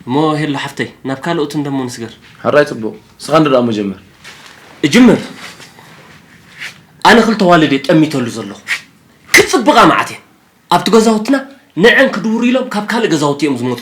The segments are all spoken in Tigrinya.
እሞ ሄሉ ሓፍተይ ናብ ካልኦት እንደሞ ንስገር ሕራይ ፅቡቕ ስኻ እንዶ ደኣ መጀመር እጅምር ኣነ ክልተ ዋልድ እየ ጠሚተሉ ዘለኹ ክፅብቓ መዓት እየ ኣብቲ ገዛውትና ንዐን ክድውሩ ኢሎም ካብ ካልእ ገዛውቲ እዮም ዝመፁ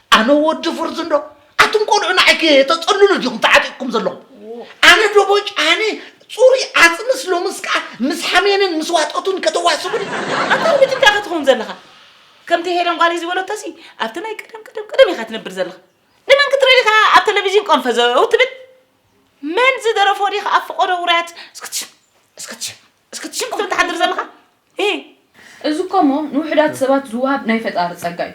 ኣነ ወዲ ፍርዚ እንዶ ኣቱም ቆልዑ ንዓይ ከተፀልሉ ዲኹም ተዓጢቕኩም ዘለኹም ኣነ ዶቦጭ ኣነ ፅሩይ ኣፅምስ ሎምስ ከዓ ምስ ሓሜንን ምስ ዋጠቱን ከተዋስቡኒ ኣታ ውዲት እንታይ ከትኸውን ዘለኻ ከምቲ ሄለን ጓለይ ዝበለቶሲ ኣብቲ ናይ ቀደም ቀደም ቀደም ኢኻ ትነብር ዘለኻ ንመን ክትርኢ ኢኻ ኣብ ቴሌቪዥን ቆንፈዘው ትብል መን ዝደረፎ ዲኻ ኣብ ፍቆዶ ውራያት እስክትሽም እስክትሽም እስኪ ትሽቅጥ ትሓድር ዘለኻ እህ። እዚ እኮ እሞ ንውሑዳት ሰባት ዝወሃብ ናይ ፈጣሪ ጸጋ እዩ።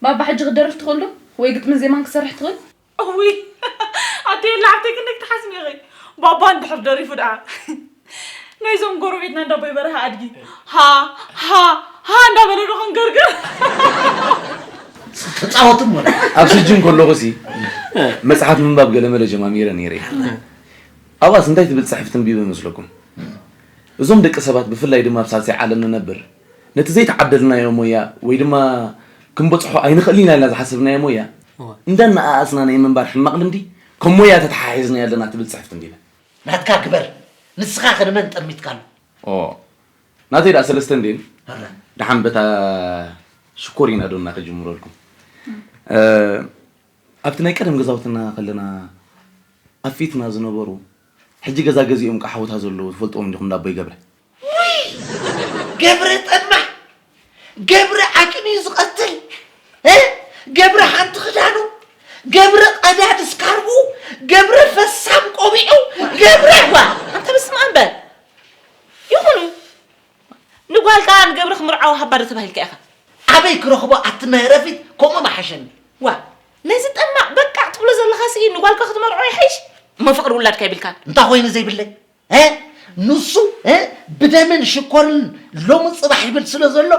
ባባ ሕጂ ክትደርፍ ትኽእል ዶ? ወይ ግጥምን ዜማን ክትሰርሕ ትኽእል? እውይ ኣደየ ላዕብተይ ክንደይ ክትሓስሚ ኢኺ ባባ እንድሕር ደሪፉ ደኣ ናይዞም ጎረቤትና እንዳ ኣቦይ በርሀ ኣድጊ ሃ ሃ ሃ እንዳበለ ዶ ክንገርግር ክጻወትም ወላ ኣብ ስጅን ከለኹ ሲ መጽሓፍ ምንባብ ገለመለ ጀማሚረ ነይረ ኣብኣስ እንታይ ትብል ጽሕፍ ተንቢቡ ይመስለኩም? እዞም ደቂ ሰባት ብፍላይ ድማ ኣብ ሳልሳይ ዓለም ንነብር ነቲ ዘይተዓደልናዮ ሞያ ወይ ድማ ክንበጽሖ ኣይንኽእልን ኢና ኢልና ዝሓሰብናዮ ሞያ እንዳነኣኣስና ናይ ምንባር ሕማቕ ልምዲ ከም ሞያ ተተሓሒዝናዮ ኣለና ትብል ጽሕፍ ተንቢበ። ናትካ ግበር ንስኻኸ ንመን ጠሚትካሉ? ኦህ ናተይ ደኣ ሰለስተ እንድየን እረ ደሓን በታ ሽኮሪና ዶና ክጅምረልኩም። ኣብቲ ናይ ቀደም ገዛውትና ከለና ኣብ ፊትና ዝነበሩ ሕጂ ገዛ ገዚኦም ቃሓውታ ዘለዉ ትፈልጥዎም ዲኹም እንዳ ኣቦይ ገብረ። ውይ ገብረ ጠማዕ ገብረ ዓቅን እዩ ዝቀትል እ ገብረ ሓንቲ ክዳኑ ገብረ ቀዳድ ስካርቡ ገብረ ፈሳም ቆቢዑ ገብረ እባ ኣንተ በስማኣም በል ይኹን ንጓልካ ንገብረ ክምርዓው ሃባ ዶ ተባሂልካ ኢኻ? ኣበይ ክረኽቦ ኣቲ መህረፊት ከምኡ ምሓሸኒ። ዋእ ነዚ ጠማዕ በቃዕ ትብሎ ዘለኻ ስኢ ንጓልካ ክትመርዖ ይሐይሽ እሞ ፍቅሪ ውላድካ የብልካን። እንታይ ኮይኑ ዘይብለይ እ ንሱ እ ብደምን ሽኮርን ሎሚ ጽባሕ ይብል ስለ ዘሎ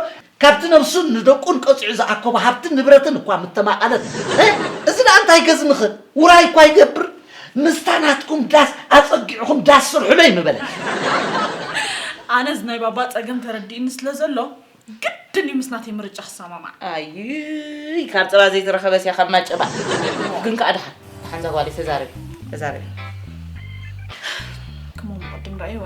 ካብቲ ነብሱን ንደቁን ቀጺዑ ዝኣከቦ ሃብትን ንብረትን እኳ ምተማቐለት፣ ህ! እዚ ደኣ እንታይ ገዝምኸ ውራይ እኳ ይገብር፣ ምስታ ናትኩም ዳስ ኣጸጊዕኹም ዳስ ስርሑለይ ምበለት። ኣነስ ናይ ባባ ጸገም ተረዲኡኒ ስለ ዘሎ፣ ግድን እዩ ምስ ናተይ ምርጫ ክሰማማዕ። ኣይይ ካብ ጸባ ዘይተረኸበስ እያ ካብ ማጨባ። ግን ከኣ ደሓን ደሓን እዛ ጓለይ ተዛረቢ ተዛረቢ። ክምኡ ምቕድም ረኣይዋ።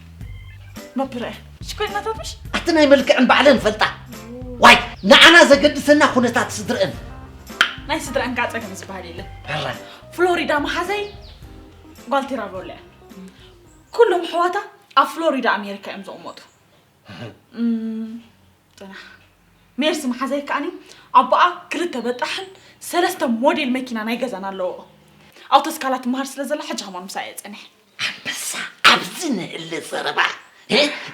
መብርያ ሽኮይናታትሽ ኣቲ ናይ መልክዕን ባዕለን ፈልጣ ዋይ ንዓና ዘገድሰና ኩነታት ስድርአን ናይ ስድርአን ካፀ ከም ዝበሃል የለን ፍሎሪዳ መሓዘይ ጓልቲራ በሎ እያ ኩሎም ሕዋታ ኣብ ፍሎሪዳ ኣሜሪካ እዮም ዝቕመጡ ጥና ሜርሲ መሓዘይ ከዓኒ ኣቦኣ ክልተ በጣሕን ሰለስተ ሞዴል መኪና ናይ ገዛን ኣለዎ ኣውቶስካላ ትመሃር ስለ ዘላ ሕጂ ከማን ምሳኣ እየ ፀኒሐ ኣንበሳ ኣብዚ ንእለ ዘረባ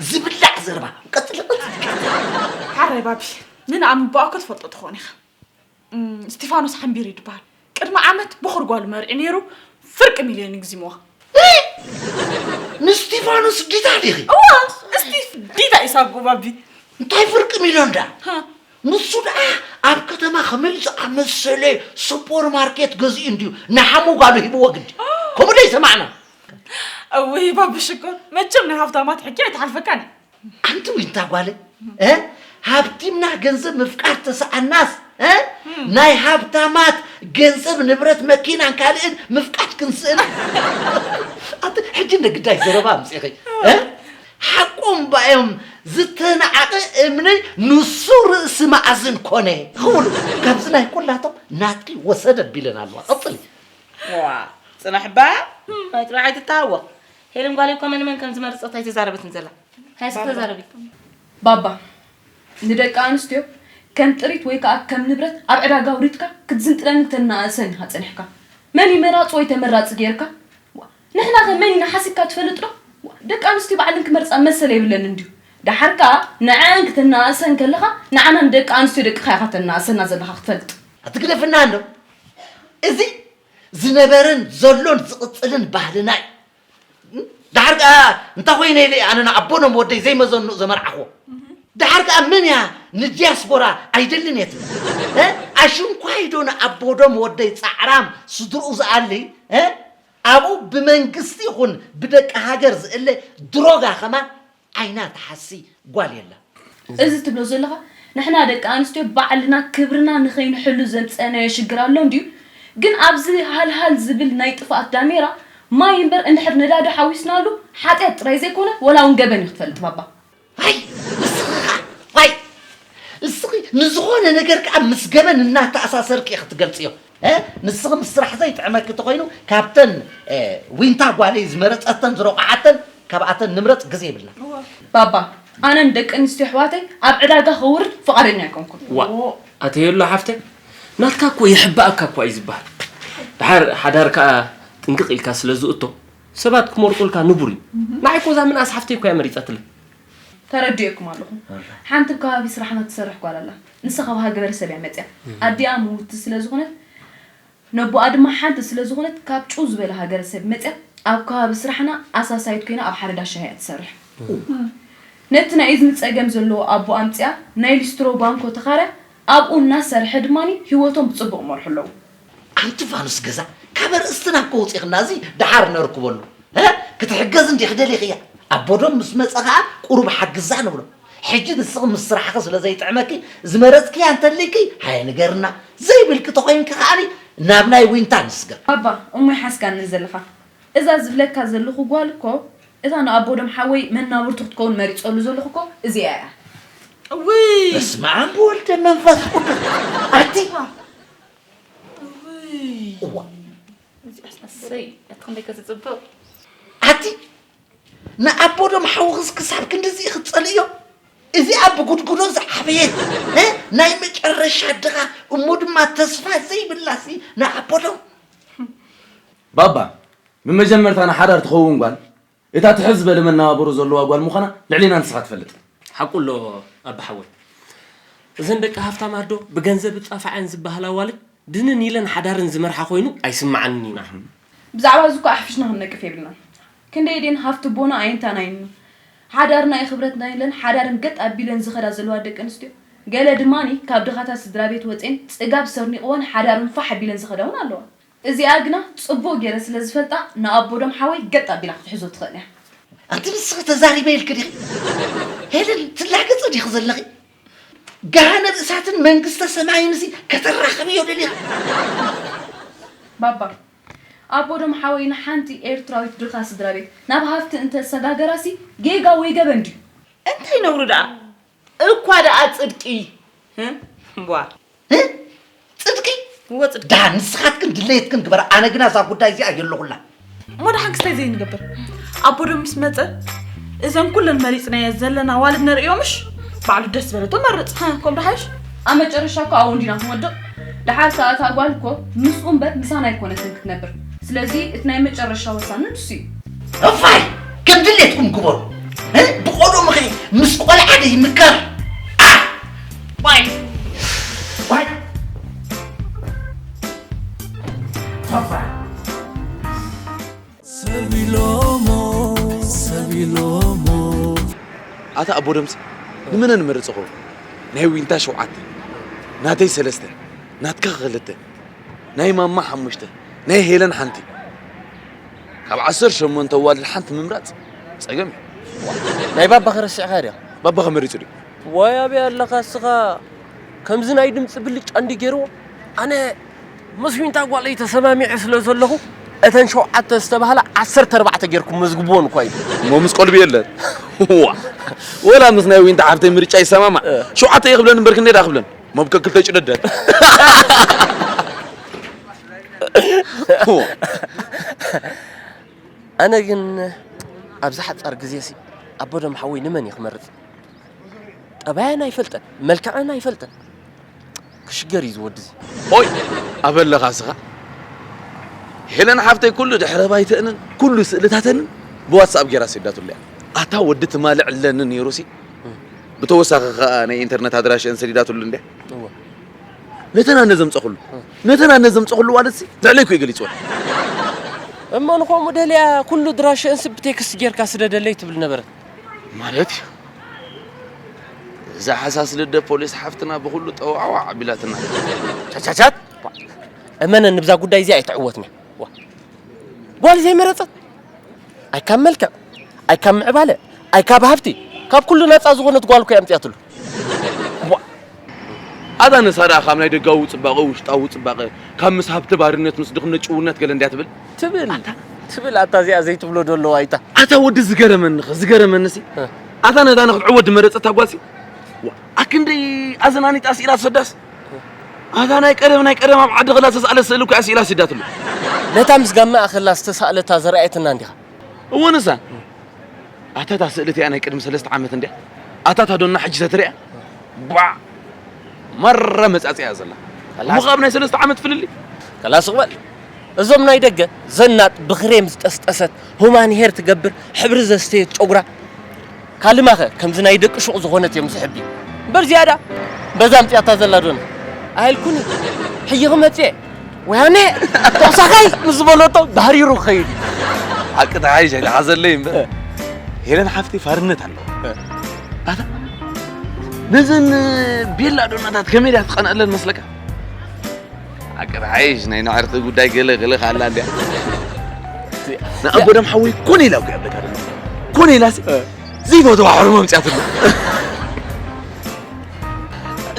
ዝብላዕ ዘረባ ቀጽሊ ቀጽሊ ሓራይ ባቢ ንንኣምን ብኣኮ ትፈልጦ ትኾን ኢኻ ስቲፋኖስ ሓምቢር እዩ ድበሃል ቅድሚ ዓመት ቦኽር ጓሉ መርዒ ነይሩ ፍርቂ ሚልዮን ይግዚምዋ ንስቲፋኖስ ዲታ ዲኺ እዋ እስቲፍ ዲታ ኢሳብ ባቢ እንታይ ፍርቂ ሚልዮን ዳ ንሱ ደኣ ኣብ ከተማ ከመይ ዝኣመሰለ ሱፖር ማርኬት ገዚኡ እንድዩ ንሓሙ ጓሉ ሂብዎ ግዲ ከምኡ ደይ ሰማዕና እውይ ባቢ ሽኮር መቸም ናይ ሃብታማት ሕጊ ኣይትሓልፈካን እዩ ኣንቲ ዊንታ ጓለ ሃብቲምና ገንዘብ ምፍቃር ተሰኣናስ ናይ ሃብታማት ገንዘብ ንብረት መኪናን ካልእን ምፍቃድ ክንስእን ኣንቲ ሕጂ እንደ ግዳይ ዘረባ ኣምፅኺ ሓቆም ባእዮም ዝተናዓቀ እምኒ ንሱ ርእሲ ማኣዝን ኮነ ክብሉ ካብዚ ናይ ኩላቶም ናትኪ ወሰደ ኣቢለን ኣለዋ ቀጽሊ። ዋእ ጽናሕ እባ ናይ ጥራይ ኣይትተሃወኽ ሄለን ጓለይ እኳ መን መን ከም ዝመረጸት ኣይተዛረበትን ዘላ ሃየ እስኪ ተዛረቢ። ባባ ንደቂ ኣንስትዮ ከም ጥሪት ወይ ከኣ ከም ንብረት ኣብ ዕዳጋ ኣውሪድካ ክትዝንጥለን ክተነኣእሰን ኢኻ ጸኒሕካ። መን እዩ መራጺ ወይ ተመራጺ ጌርካ? ዋእ። ንሕና ከ መን ኢና ሓሲብካ ትፈልጥ ዶ ዋእ ደቂ ኣንስትዮ ባዕለን ክመርጻ መሰል የብለንን ድዩ ደሓር ከኣ ንዐኣን ክተነኣእሰን ከለኻ ንዓና ንደቂ ኣንስትዮ ደቅኻ ኢኻ ተነኣእሰና ዘለኻ ክትፈልጥ ኣትግደፍና ኣሎ እዚ ዝነበረን ዘሎን ዝቕጽልን ባህልና እዩ ደሓር ከኣ እንታይ ኮይነ ኢለ ኣነ ንኣቦ ኖም ወደይ ዘይመዘንኡ ዘመርዓኽዎ ደሓር ከኣ መን እያ ንዲያስፖራ ኣይደልን እየ ትብል ኣሽንኳይዶ ንኣቦ ዶም ወደይ ጻዕራም ስድርኡ ዝኣሊ ኣብኡ ብመንግስቲ ይኹን ብደቂ ሃገር ዝእለ ድሮጋ ከማን ዓይና ትሓሲ ጓል የላን። እዚ ትብሎ ዘለኻ ንሕና ደቂ ኣንስትዮ ባዕልና ክብርና ንኸይንሕሉ ዘምጸእናዮ ሽግር ኣሎ እንድዩ ግን ኣብዚ ሃልሃል ዝብል ናይ ጥፍኣት ዳሜራ ማይ እምበር እንድሕር ነዳዲ ሓዊስናሉ ሓጥያት ጥራይ ዘይኮነ ወላ ውን ገበን እዩ ክትፈልጥ ባባ ኣይ ንስኺኻ ኣይ ንስኺ ንዝኾነ ነገር ከዓ ምስ ገበን እናተኣሳሰርኪ እየ ክትገልፅዮ እ? ንስኺ ምስ ስራሕ ዘይጥዕመኪ ተኾይኑ ካብተን እ፣ ዊንታ ጓለይ ዝመረፀተን ዝረቑዓተን ካብኣተን ንምረፅ ግዜ ይብልና እወ ባባ ኣነ ንደቂ ኣንስትዮ ኣሕዋተይ ኣብ ዕዳጋ ከውርድ ፍቓደኛ ኣይኮንኩን። ዋእ ኣተየሎ ሓፍተይ ናትካ እኮ ይሕባኣካ እኳ እዩ ዝበሃል ድሓር ሓዳር ከዓ ጥንቅቕ ኢልካ ስለ ዝእቶ ሰባት ክመርቁልካ ንቡር እዩ ንዓይ እኮ እዛ ምንኣስ ሓፍተይ እኮ እያ መሪፀትለይ ተረዲኦኩም ኣለኹ ሓንቲ ኣብ ከባቢ ስራሕና ትሰርሕ ጓል ኣላ ንሳ ካብ ሃገበረሰብ እያ መፅያ ኣዲኣ ምውቲ ስለ ዝኾነት ነቦኣ ድማ ሓንቲ ስለ ዝኾነት ካብ ጭው ዝበለ ሃገረሰብ መፅያ ኣብ ከባቢ ስራሕና ኣሳሳይት ኮይና ኣብ ሓደ ዳሻ እያ ትሰርሕ ነቲ ናይ እዝኒ ፀገም ዘለዎ ኣቦ ኣምፅኣ ናይ ሊስትሮ ባንኮ ተኻርያ ኣብኡ እናሰርሐ ድማ ህይወቶም ብፅቡቕ ይመርሑ ኣለዉ ኣንቲ ፋኑስ ገዛ ካብ ኣርእስትና እኮ ውጺኽና እዚ ደሓር ነርክበሉ እ ክትሕገዝ እንዲኺ ደሊኽያ ኣቦ ዶም ምስ መጸ ከኣ ቁሩብ ሓግዛ ንብሎ ሕጂ ንስኺ ምስ ስራሕኺ ስለ ዘይጥዕመኪ ዝመረጽክያ እንተልይኪ ሃየ ንገርና ዘይብልኪ ተኾይንኪ ከኣ ናብ ናይ ዊንታ ንስገር። ባባ እሞ ይሓስካኒ ዘለኻ እዛ ዝብለካ ዘለኹ ጓል እኮ እታ ንኣቦ ዶም ሓወይ መናብርቱ ክትከውን መሪጸሉ ዘለኹ እኮ እዚኣ እያ እውይ። በስመኣም ብወልደ መንፈስ ቁዱስ ኣቲ ኣቲ ንኣቦዶም ሓውኽስ ክሳብ ክንድዚ ክትጸልእዮ እዚኣ ብጉድጉዶ ዝዓበየት እ? ናይ መጨረሻ ድኻ እሞ ድማ ተስፋ ዘይብላሲ ንኣቦዶም ባባ ንመጀመርታ ንሓዳር ትኸውን ጓል እታ ትሕት ዝበለ መነባብሮ ዘለዋ ጓል ምዃና ልዕሌና ንስኻ ትፈልጥ። ሓቁ ኣሎ ኣቢ ሓወይ እዘን ደቂ ሃፍታም ኣዶ ብገንዘብ እጻፋዐን ዝባሃል ኣዋልድ ድንን ኢለን ሓዳረን ዝመርሓ ኮይኑ ኣይስማዓንን ኢና። ብዛዕባ እዚ እኮ ኣሕፊሽና ክንነቅፍ የብልናን ክንደይ ድየን ሃፍቲ ቦና ኣየንታን ኣይኑ ሓዳርና ይክብረትና ኢለን ሓዳረን ገጥ ኣቢለን ዝከዳ ዘለዋ ደቂ ኣንስትዮ ገለ ድማኒ ካብ ድኻታት ስድራቤት ወጼን ጽጋብ ሰርኒቅወን ሓዳረን ፋሕ ኣቢለን ዝከዳ ውን ኣለዋ እዚኣ ግና ጽቡቕ ጌረ ስለ ዝፈልጣ ንኣቦዶም ሓወይ ገጥ ኣቢላ ክትሕዞ ትኽእል እያ። ኣንቲ ንስኺ ተዛሪበ ኢልኪ ዲኺ ሄለን ትላገጺ ዲኺ ዘለኺ? ገሃነብ እሳትን መንግስተ ሰማይን ሲ ከተራኽብዮ ደሊኺ? ባባ ኣቦዶም ሓወይ ንሓንቲ ኤርትራዊት ድኻ ስድራቤት ናብ ሃፍቲ እንተ ሰጋገራ ሲ ጌጋ ወይ ገበን ድዩ? እንታይ ነውሪ ደኣ እኳ ደኣ ጽድቂ እምቧ ጽድቂ እወ ጽድቂ ዳ ንስኻትክን ድለየትክን ግበራ ኣነ ግና እዛ ጉዳይ እዚኣ የለኹላ እሞ ደሓን ክስታይ ዘይንገብር ኣቦ ዶ ምስ መፀ እዘን ኩለን መሪፅናየ ዘለና ዋልድ ነርእዮምሽ ባዕሉ ደስ በለቶ መርፅ ከምዶ ሓይሽ ኣብ መጨረሻ እኮ ኣብኡ እንዲና ክንወድቕ ደሓር ሰዓት ኣጓል እኮ ምስኡ እምበር ምሳና ኣይኮነትን ክትነብር ስለዚ እቲ ናይ መጨረሻ ወሳኒ ንሱ እዩ እፋይ ከም ድሌትኩም ግበሩ እ? ብቆልኡ ምኸ ምስ ቆልዓ ዶ ይምከር ኣ! ዋይ ዋይ እፋይ ኣታ ኣቦ ደምፂ ንመነ ንመርፅ ኾ ናይ ዊንታ ሸውዓተ ናተይ ሰለስተ ናትካ ክልተ ናይ ማማ ሓሙሽተ ናይ ሄለን ሓንቲ ካብ ዓሰርተ ሸሞንተ ኣዋልድ ሓንቲ ምምራጽ ጸገም እዩ። ናይ ባባኺ ረሲዕካያ ድያ? ባባኺ መሪጹ ድዩ? ዋይ ኣበይ ኣለኻ እስኻ ከምዚ ናይ ድምጺ ብልጫ እንዲ ገይርዎ ኣነ ምስ ዊንታ ጓለይ ተሰማሚዐ ስለ ዘለኹ እተን ሸውዓተ ዝተባህላ ዓሰርተ ኣርባዕተ ጌርኩም መዝግብዎን እኳ ኢሉ እሞ ምስ ቆልቢ የለን ዋ ወላ ምስ ናይ ዊንታ ሓፍተይ ምርጫ ይሰማማዕ ሸውዓተ እየ ክብለን እምበር ክንደይ ድኣ ክብለን መብከ ክልተ ጭደደን ኣነ ግን ኣብዚ ሓጻር ግዜሲ ኣቦደም ሓወይ ንመን እዩ ክመርጽ? ጠባየን ኣይፈልጠን መልክዐን ኣይፈልጠን ክሽገር እዩ ዝወዲ እዚ ኦይ ኣበለኻ ስኻ ሄለን ሓፍተይ ኩሉ ድሕረ ባይተንን ኩሉ ስእልታተንን ብዋትስኣፕ ጌራ ሰዳትሉ እያ ኣታ ወዲ ትማሊ ዕለኒ ነይሩሲ ብተወሳኺ ከዓ ናይ ኢንተርነት ኣድራሽአን ሰዲዳትሉ እንድያ ነተን ኣነ ዘምፀኹሉ ነተን ኣነ ዘምፀኹሉ ዋለትሲ ልዕለይኩ እዩ ገሊፅወን እሞ ንኸምኡ ደልያ ኩሉ ድራሸእን ስብ ብቴክስት ጌርካ ስደደለይ ትብል ነበረት ማለት እዩ እዛ ሓሳስ ልደ ፖሊስ ሓፍትና ብኩሉ ጠዋዕዋዕ ኣቢላትና ቻቻቻት እመነኒ ብዛ ጉዳይ እዚኣ ኣይትዕወትኒ ጓል ዘይመረጸት ኣይ ካብ መልክዕ ኣይ ካብ ምዕባለ ኣይ ካብ ሃብቲ ካብ ኩሉ ናጻ ዝኾነት ጓል እኮ ኣምጽያትሉ ኣዛ ነሳዳ ካብ ናይ ደጋዊ ጽባቐ ውሽጣዊ ጽባቐ ካብ ምስ ሃብቲ ባርነት ምስ ድኽነት ጭውነት ገለ እንድያ ትብል ትብል ትብል ኣታ እዚኣ ዘይትብሎ ዶ ኣለዋ ኣይታ ኣታ ወዲ ዝገረመኒ ዝገረመኒ ሲ ኣታ ነዛ ንክትዕወድ ዝመረጸታ ጓልሲ ኣክንደይ ኣዘናኒጣ ስኢላ ትሰዳስ ኣታ ናይ ቀደም ናይ ቀደም ኣብ ዓዲ ክላ ዝተሳእለት ስእሊ እኮ እያ ስኢላ ሲዳትሉ። ነታ ምስ ጋመኣ ከላ ዝተሳእለታ ዘርኣየትና እንዲኻ። እወ ንሳ ኣታ እታ ስእሊ እቲኣ ናይ ቅድሚ ሰለስተ ዓመት እንድያ ኣታ እታ ዶና ሕጂ ተትርኣ ባዕ ማራ መጻጽያ እያ ዘላ እሞ ካብ ናይ ሰለስተ ዓመት ፍልልይ ከላ ስቕ በል እዞም ናይ ደገ ዘናጥ ብክሬም ዝጠስጠሰት ሁማን ሄር ትገብር ሕብሪ ዘስተየት ጨጉራ ካልማኸ ከምዚ ናይ ደቂ ሹቕ ዝኾነት እዮም ዝሕቢ እምበር ዝያዳ በዛ ኣምጺኣታ ዘላ ዶና ኣይልኩን ሕጂ ክመጽእ ወያነ ተቕሳኻይ ምስ ዝበለቶ ባህሪሩ ክኸይድ እዩ ሓቂ ተሓይሽ ኣይተሓዘለይ እምበር ሄለን ሓፍቲ ፋርነት ኣለዎ ኣታ ነዘን ቤላ ዶናታት ከመይ ድያ ትቐንኣለን መስለካ ዓቀብ ሓይሽ ናይ ናዕርቂ ጉዳይ ገለ ገለ ካላ እንዲያ ንኣቦደም ሓወይ ኮነ ኢላ ጉያ በታ ድማ ኮነ ኢላሲ ዘይፈትዋ ሕርሞ ምፅያትሉ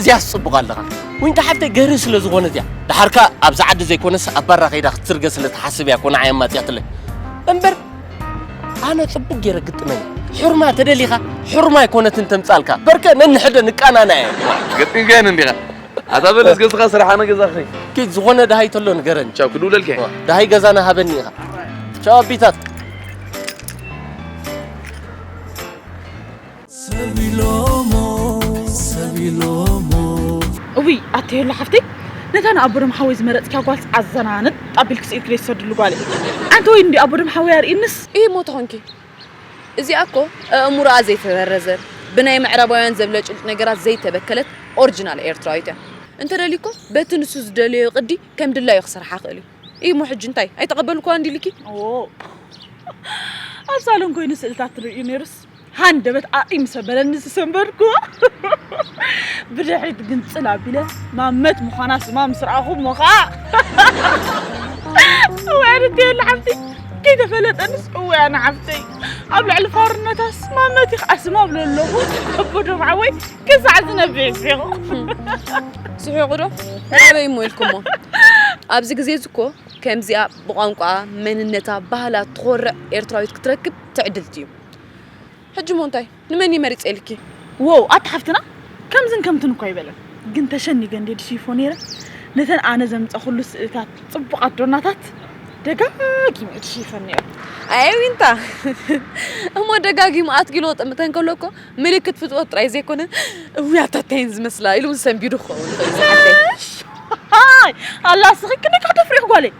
እዚኣስ ፅቡቕ ኣለኻ ወይንታ ሓፍተይ ገሪ ስለ ዝኾነት እያ ድሓርካ ኣብዚ ዓዲ ዘይኮነስ ኣብ ባራ ከይዳ ክትስርገ ስለ ትሓስብ እያ ኮነ ዓያ ማፅያትለይ እምበር ኣነ ፅቡቅ ገይረ ግጥመኝ ሕርማ ተደሊኻ ሕርማ ኣይኮነትን ተምፃልካ በርከ ነንሕደ ንቃናና እየ ግጥም ገን እንዲኻ ኣታ በል እስከ እስኻ ስራሕ ኣነ ገዛ ክኸይድ ኪድ ዝኾነ ደሃይ ተሎ ንገረኒ ቻው ክድውለልካ እየ ደሃይ ገዛና ሃበኒ ኢኻ ቻው ኣቢታት ሰቢሎሞ ሰቢሎሞ እውይ ኣተየሎ ሓፍተይ ነታ ንኣቦዶም ሓወይ ዝመረፅኪያ ጓልስ ኣዘናንጥ ኣቢልኪ ስኢልኪ ደይ ትሰድሉ ጓል እየ ኣንቲ ወይ እንዲ ኣቦዶም ሓወይ ኣርእይንስ እይ ሞት ኾንኪ እዚኣ እኮ ኣእምሮኣ ዘይተበረዘ ብናይ ምዕራባውያን ዘብለጭልጭ ነገራት ዘይተበከለት ኦርጅናል ኤርትራዊት እያ። እንተደልዩ እኮ በቲ ንሱ ዝደለዮ ቅዲ ከም ድላዩ ክሰርሓ ይኽእል እዩ። እሞ ሕጂ እንታይ ኣይተቐበልኩዋን ድዩ ኢልኪ? ኣዎ ኣብ ሳሎን ኮይኑ ስእልታት ትርእዩ ነይሩስ ሃንደበት ኣዒ ምስ ኣበለኒ ዝሰንበድኩዎ ብድሕሪት ግንጽል ኣቢለ ማመት ምዃና ስማ ምስ ረኣኹ እሞ ኸኣ ወዕርት የለ ሓብቲ ከይተፈለጠንስ እወ ኣነ ዓብተይ ኣብ ልዕሊ ፋርነታስ ማመት ኢኽ ዓስም ኣብሎ ኣለኹ እቦዶም ዓወይ ክሳዕ ዝነብዕ ይስሒቑ ስሒቑ ዶ ኣበይ እሞ ኢልኩሞ ኣብዚ ግዜ እዚ እኮ ከምዚኣ ብቋንቋ መንነታ ባህላ ትኾርዕ ኤርትራዊት ክትረክብ ትዕድልቲ እዩ ሕጂ ሞ እንታይ ንመን እዩ መሪጸ ኢልኪ? ዎው ኣቲ ሓፍትና ከምዝን ከምትን እኳ ኣይበለን ግን ተሸኒገ እንዴ ድሽይፎ ነይረ ነተን ኣነ ዘምጸኹሉ ስእልታት ጽቡቓት ዶናታት ደጋጊመ እየ ድሽይፈን ነይረ ኣይ ዊንታ እሞ ደጋጊሙ ኣትኪሎ ጥምተን ከሎ እኮ ምልክት ፍትወት ጥራይ ዘይኮነ እውይ ኣታታይን ዝመስላ ኢሉ እውን ሰንቢዱ ክኸውን ኣላ ስኺ ክንዲ ከተፍሪኽ ጓለይ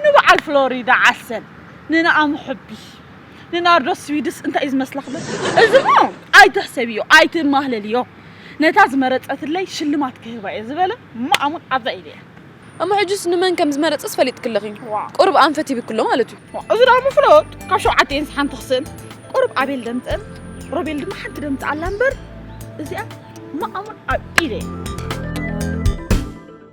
ንበዓል ፍሎሪዳ ዓሰል ንንኣም ሕቢ ንናርዶስ ስዊድስ እንታይ እዩ ዝመስላ ክብል እዚ እሞ ኣይትሕሰብዮ ኣይትማህለልዮ ነታ ዝመረጸትለይ ሽልማት ክህባ እየ ዝበለ ማኣሙን ኣብዛ ኢደያ እሞ ሕጂስ ንመን ከም ዝመረጸስ ፈሊጥክ ኣለኺ ቁሩብ ኣንፈት ይብክሎ ማለት እዩ እዚ ደኣ ምፍሎጥ ካብ ሸውዓተ ኢንስ ሓንቲ ክስእን ቁሩብ ኣቤል ደምጸን ሮቤል ድማ ሓንቲ ደምጽ ኣላ እምበር እዚኣ ማኣሙን ኣብ ኢደያ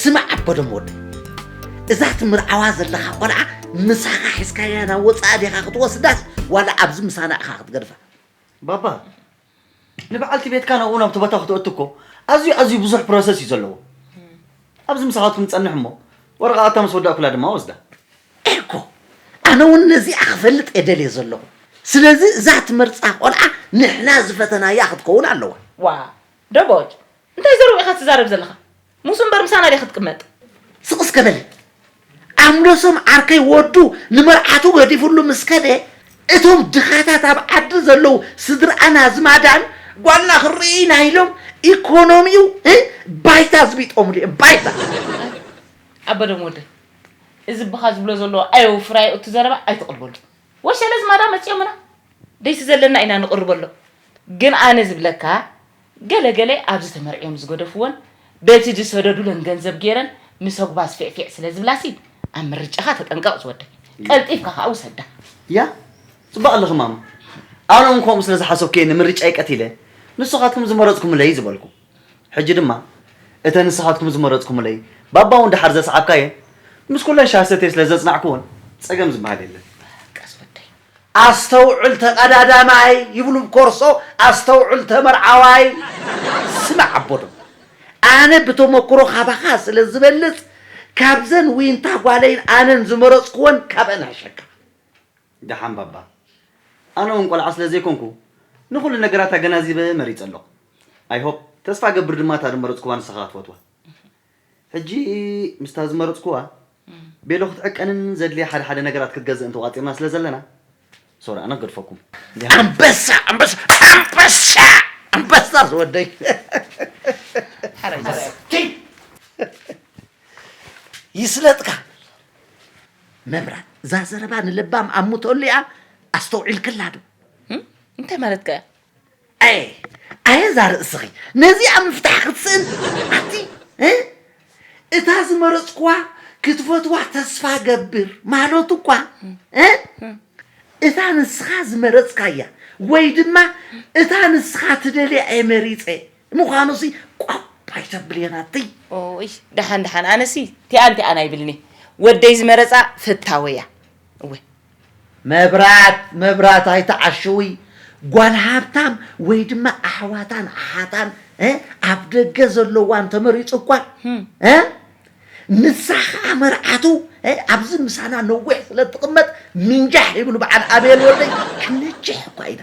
ስማዕ ኣቦዶም ወደይ እዛ ትምርዓዋ ዘለኻ ቆልዓ ምሳኻ ሒዝካያ ናብ ወፃኢ ዲኻ ክትወስዳስ ዋላ ኣብዚ ምሳና ኢኻ ክትገድፋ ባባ ንበዓልቲ ቤትካ ናብኡ ናብቲ ቦታ ክትእቱ እኮ ኣዝዩ ኣዝዩ ብዙሕ ፕሮሰስ እዩ ዘለዎ ኣብዚ ምሳኻትኩም ፀንሕ እሞ ወረቓቕታ ምስ ወዳእኩላ ድማ ወስዳ እኮ ኣነ እውን ነዚኣ ክፈልጥ እየ ደልየ ዘለኹ ስለዚ እዛ ትመርፃ ቆልዓ ንሕና ዝፈተናያ ክትከውን ኣለዋ ዋ ደቦጭ እንታይ ዘረቡ ኢኻ ትዛረብ ዘለኻ ሙሱ እምበር ምሳና ድያ ክትቅመጥ። ስቅ እስከ በል ኣምለሶም ዓርከይ ወዱ ንመርዓቱ ገዲፍሉ ምስ ከደ እቶም ድኻታት ኣብ ዓዲ ዘለዉ ስድርኣን ኣዝማዳን ጓልና ክንርኢ ኢና ኢሎም ኢኮኖሚው ባይታ ኣዝቢጦምሉ እዮም ባይታ። ኣበደም ወደይ እዚ ብኻ ዝብሎ ዘሎ ኣየውፍራዮ እቲ ዘረባ ኣይትቅርበሉ ወሸለ ዝማዳ መጽዮምና ደይሲ ዘለና ኢና ንቅርበሎም ግን ኣነ ዝብለካ ገለ ገለ ኣብዚ ተመርዕዮም ዝገደፍወን በቲ ዝሰደዱለን ገንዘብ ገይረን ምስ ኣጉባዝ ፊዕፊዕ ስለ ዝብላሲ ኣብ ምርጫኻ ተጠንቀቕ ዝወደይ። ቀልጢፍካ ከኣ ውሰዳ። ያህ ጽቡቅ ኣለኺ ማማ ኣነ ውን ከምኡ ስለ ዝሓሰብኩ እየ ንምርጫይ ቀቲለ ንስኻትኩም ዝመረጽኩምለይ ዝበልኩ ሕጂ ድማ እተን ንስኻትኩም ዝመረጽኩምለይ ባባ ውን ደሓር ዘስዓብካየን ምስ ኩለን ሻሂ ሰትየ ስለ ዘጽናዕኩወን ጸገም ዝበሃል የለን። ቀስ ወደይ ኣስተውዕል ተቀዳዳማይ ይብሉ ብ ኮርሶ ኣስተውዕል ተመርዓዋይ። ስማዕ ኣቦ ዶብ ኣነ ብተሞክሮ ካባኻ ስለ ዝበልጽ ካብዘን ዊንታ ጓለይን ኣነን ዝመረጽኩወን ካብኣን እሕሸካ። ደሓን ባባ ኣነ ውን ቆልዓ ስለ ዘይኮንኩ ንኹሉ ነገራት ኣገናዚበ መሪጸ ኣለኹ። ኣይ ሆፕ ተስፋ እገብር ድማ እታ ድመረጽኩዋ ንስኻ ክትፈትዋ። ሕጂ ምስታ ዝመረጽኩዋ ቤሎ ክትዕቀንን ዘድልያ ሓደ ሓደ ነገራት ክትገዝእን ተቋጺርና ስለ ዘለና ሶሪ ኣነ ክገድፈኩም። ኣንበሳ ኣንበሳ ኣንበሳ ኣንበሳ ዝወደይ። ይስለጥካ መብራት እዛ ዘረባ ንለባም ኣሙተሉ እያ ኣስተውዒልክላ ዶ እንታይ ማለትካ እያ? ኣየ ኣየ እዛ ርእስኺ ነዚኣ ምፍታሕ ክትስእን ኣቲ እ እታ ዝመረጽኩዋ ክትፈትዋ ተስፋ ገብር ማለቱ እኳ እ እታ ንስኻ ዝመረጽካያ ወይ ድማ እታ ንስኻ ትደልያ እየ መሪጸ ምዃኑሲ ቋብ ኣይተብልየን ኣቲ ኦይ ደሓን ደሓን ኣነሲ ቲኣን ቲኣን ኣይብልኒ ወደይ ዝመረጻ ፈታወያ እወ መብራት መብራት ኣይትዓሽዊ ጓል ሃብታም ወይ ድማ ኣሕዋታን ኣሓታን እ ኣብ ደገ ዘለዋ እንተመሪጹ እኳ እ ንሳ ኸኣ መርዓቱ እ ኣብዚ ምሳና ነዊሕ ስለ እትቕመጥ ምንጃሕ ይብሉ በዓል ኣቤል ወደይ ክንጅሕ እኳ ኢና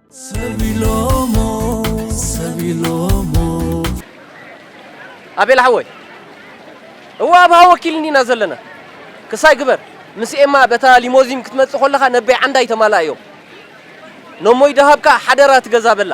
ኣቤል ሓወይ እወ ኣብ ሃወኪል እንዲና ዘለና ክሳይ ግበር ምስ ኤማ በታ ሊሞዚን ክትመጽእ ኮለኻ ነበይ ዓንዳይ ተማላእ እዮም ነሞይ ደሃብካ ሓደራ ትገዛ በላ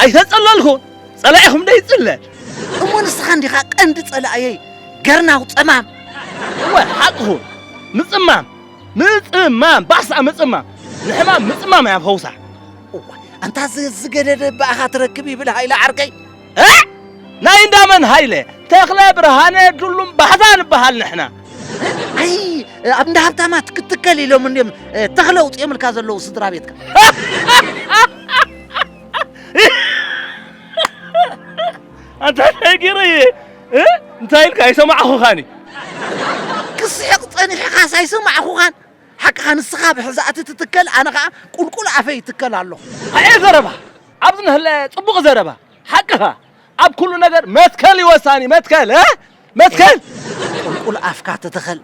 ኣይተጸለልኩ ጸላኢኹም ዶ ይጽለ እሞ ንስኻ እንዲኻ ቀንዲ ጸላእየይ ገርናው ጸማም እወ ሓቅኹ ምጽማም ምጽማም ባሳ ምጽማም ንሕማም ምጽማም እያ ፈውሳ እዋ ኣንታ ዝገደደ ብኣኻ ትረክብ ይብል ሃይለ ዓርከይ ኣዕ! ናይ እንዳ መን ሃይለ? ተኽለ ብርሃነ ዱሉም ባሕታ ንበሃል ንሕና። ኣይ ኣብ እንዳ ሃብታማት ክትከል ኢሎም እንድዮም እ፣ ተኽለ ኣውፂኦምልካ ዘለዉ ስድራ ቤትካ ኣንታ እንታይ ገይረ እየ እ? እንታይ ኢልካ ኣይሰማዕኹኻኒ ክስሕቕ ፀኒሕኻስ ኣይሰማዕኹኻን ሓቅኻ ንስኻ ብሕዛእቲ ትትከል ኣነ ከዓ ቁልቁል ኣፈይ ይትከል ኣለኹ ኣየ ዘረባ ኣብዚ ነህለ ጽቡቅ ዘረባ ሓቅኻ ኣብ ኩሉ ነገር መትከል እዩ ወሳኒ መትከል እ መትከል ቁልቁል ኣፍካ ተተኸል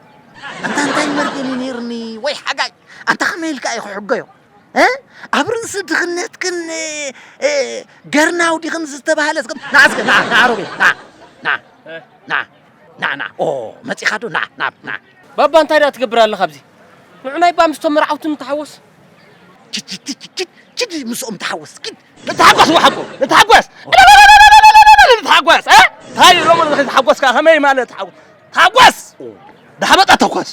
ኣንታ እንታይ መርገም እዩ ነይርኒ ወይ ሓጋይ ኣንታ ከመይ ኢልካ እዩ ክሕገዮ እ? ኣብ ርእሲ ድኽነትክን እ፣ እ፣ ገርናው ዲኽን ዝተባህለ እስከ ንዓ እስከ ንዓ ንዓ ሮቤል ንዓ ንዓ ንዓ ናዕ ናዕ ኦ መጺኻ ዶ ናዕ ናብ ናዕ ባባ እንታይ ደኣ ትገብር ኣለኻ ኣብዚ ንዑናይ ባ ምስቶም መርዓውቲ ንተሓወስ ችድ ምስኦም ተሓወስ ኪድ ንተሓጎስ ወሓጎ ንተሓጎስ ንተሓጎስ እንታይ ሎሚ ንኸይተሓጎስካ ከመይ ማለት ተሓጎስ ተሓጎስ ዳሓመጣ ተኮስ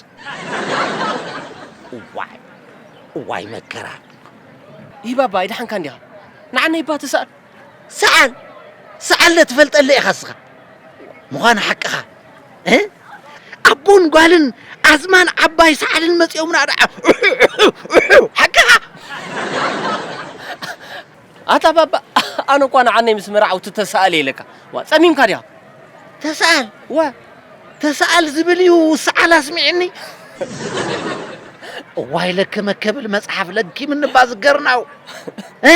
እዋይ እዋይ መከራ ይባባ ኣይደሓንካ እንዲኻ ንዓነይ ባ ተሳእል ሰዓል ሰዓለ ትፈልጠለ ኢኻ እስኻ ምዃን ሓቅኻ እ ኣቦን ጓልን ኣዝማን ዓባይ ሰዓልን መፂኦምና ደዓ ሓቅኻ ኣታ ባባ ኣነ እኳ ንዓነይ ምስ መርዓውቲ ተሰኣል የለካ ዋ ጸሚምካ ድያ ተሰኣል ወ ተሰኣል ዝብል እዩ ሰዓል ኣስሚዕኒ እዋይ ለከመ ከብል መጽሓፍ ለኪም እንባ ዝገርናው እ